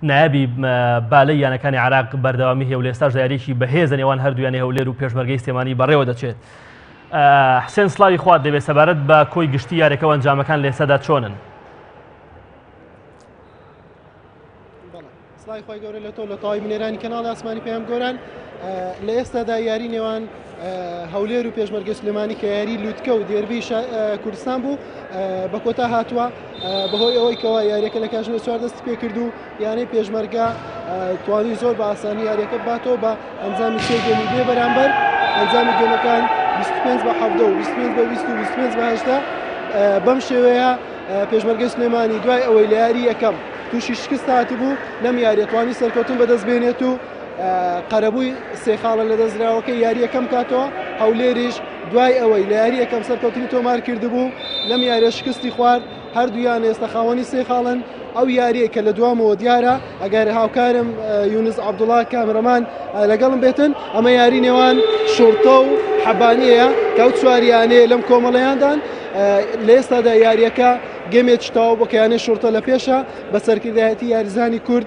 نایابی بالەی یانەکانی عراق بەردەوامی هەیە و لێستاشدا یاریکی بەهێزە نێوان هەردوویانی هەولێر و پێشمەرگەی سلێمانی بەڕێوە دەچێت حسێن سلاوی خوارد دەبێت سەبارەت بە کۆی گشتی یارەکە و ئەنجامەکان لێسەدا چۆنن سڵای خۆی گەورە لە تۆ لە تاوای بنێرانی کەناڵ ئاسمانی پێم گۆران لە ئێستادا یاری نێوان هەولێر و پێشمەرگەی سلێمانی کە یاری لوتکە و دێربی کوردستان بوو بە کۆتا هاتووە بەهۆی ئەوەی کەەوە یاریەکە لە کاژمێ چوار دەست پێ کرد و یانەی پێشمەرگە توانی زۆر بە ئاسانی یاریەکە باتەوە بە ئەنجامی سێ گەمی بێ بەرامبەر ئەنجامی گەمەکان 25 بە 19 و 25 بە 25 بەهشتا بەم شێوەیە پێشمەرگەی سلێمانی دوای ئەوەی لە یاری یەکەم تووشی شکست هاتبوو لەم یاریەتوانی سەرکەوتن بەدەست بێنێت و قەرەبووی سێ خاڵە لەدەستدراوەکەی یارییەکەم کاتەوە هەولێریش دوای ئەوەی لە یاری یەکەم سەرکەوتنی تۆمار کردبوو لەم یاریە شکستی خوارد هەردوویان ئێستا خاوەنی سێ خاڵن ئەو یاریە کە لە دوامەوە دیارە ئەگەر هاوکارم یونس عبدوڵا کامرەمان لەگەڵم بێتن ئەمە یاری نێوان شورتە و حەبانەیە کەو چواریانەیە لەم کۆمەڵەیاندان لە ئێستادا یاریەکە گەمێ چتاو بەکەیانە شورتە لە پێشە بە سەرکردایەتی یاریزانی کورد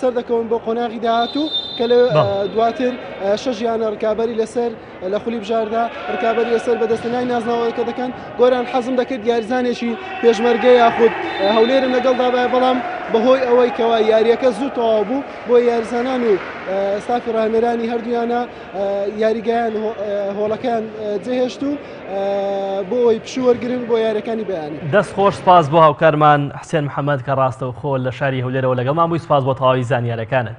سەردەکەون بۆ قۆناغی داهاتوو کە لە دواتر شەش یانە ڕکابی لەسەر لە خولی بژاردا ڕکابی لەسەر بەدەستنای نازناوەکە دەکەن گۆران حەزم دەکرد یارزانێکی پێشمەرگە یاخود هەولێرم لەگەڵ دابای بەڵام بەهۆی ئەوەی کەوا یاریەکە زوو تەواو بوو بۆ یارزانان و سافی ڕانەرانی هەردوویانە یاریگەیان هۆڵەکەیان جێهێشت و بۆ ئەوەی پشوو وەرگرن بۆ یاریەکانی بەیانی. دەست خۆش سپاس بۆ هاوکارمان حسێن محەمەد کە ڕاستەوخۆ لە شاری هەولێرەوە لەگەڵمان بووی سپاس بۆ تەواوی زانیارەکانت.